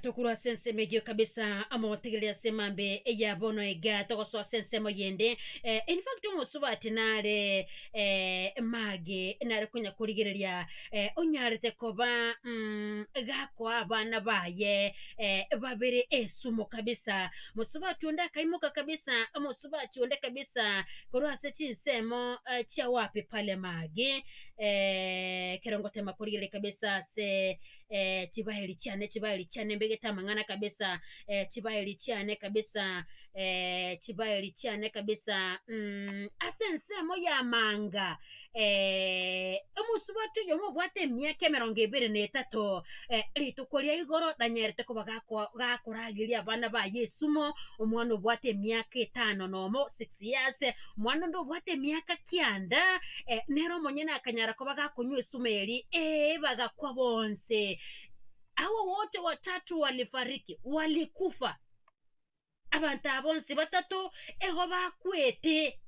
Tokorwa ase ensemo eyio kabisa, amogotegereri ase emambe ya bono iga, togosoa ase ensemo yende. Eh, in fact omosubati nare eh, mage nare konya korigereria eh, onyarete koba mm, gakoa abana baye eh, babere esumo kabisa. Mosubati onde akaimoka kabisa, omosubati onde kabisa korwa ase chinsemo eh, chia wapi pale mage eh, ekero ngotema korigereria kabisa ase eh, chibaheri chiane chibaheri chiane mbegete amang'ana kabisa eh, chibaheri chiane kabisa eh, chibaheri chiane kabisa mm, ase ensemo y'amanga eh, omosubati oyomo obwate emiaka emerongo ebere na etato eh, rituko ria igoro nanyerete koba gako- gakorageria abana ba yesumo omwana obwate emiaka etano nomo 16 Gose aase omwana onde obwate emiaka kianda, eh, nere omonyene akanyara koba gakonywa esuma eria, ee, bagakwa bonse. Hawa wote watatu walifariki, walikufa. Abanto aba bonsi batato igo bakwete.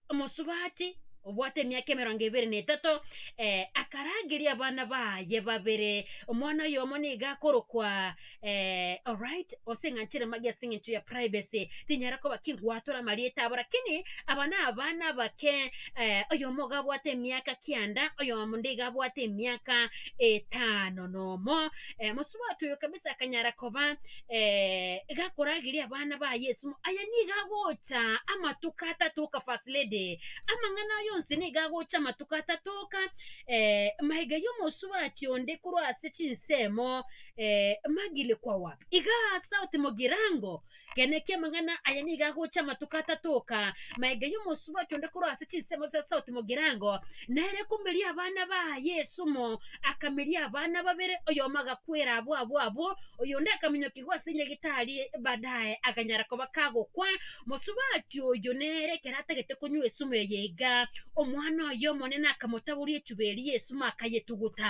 Omosubati obwate emiaka emerongo ebere na etato, eh, akarageria abana baye babere, omwana oyomo nigo akorokwa. eh, alright gose ng'a nchire magi ase eng'encho ya privacy tinyara koba ki ngwatora amarieta abo lakini aba nabana abake eh, oyomo iga abwate emiaka kianda oyomo nde iga abwate emiaka etano nomo eh, mosubati oyo kabisa akanyara koba eh, iga akorageria abana baye esimo aye niga agocha amatuko atatoka first lady amang'ana aye onsi niga agocha amatuko atatoka eh, maiga yomosubati onde korwa ase chinsemo Eh, magile kwa wap. Iga sauti mogirango. Genekia amang'ana aya niga agocha amatuko atatoka. Maega y'omosuba ocho onde korwa ase chinsemo cia sauti mogirango. Nere komeria abana ba Yesu mo. Akameria abana babere, oyomo agakwera abwo abwo abwo, oyonde akaminyokigwa ase nyagitari badaye aganyara koba kagokwa. Mosubati oyo nere ekero atagete konywa esumu eye iga, omwana oye omonene akamotaboria echuba eria y'esumu akayetuguta.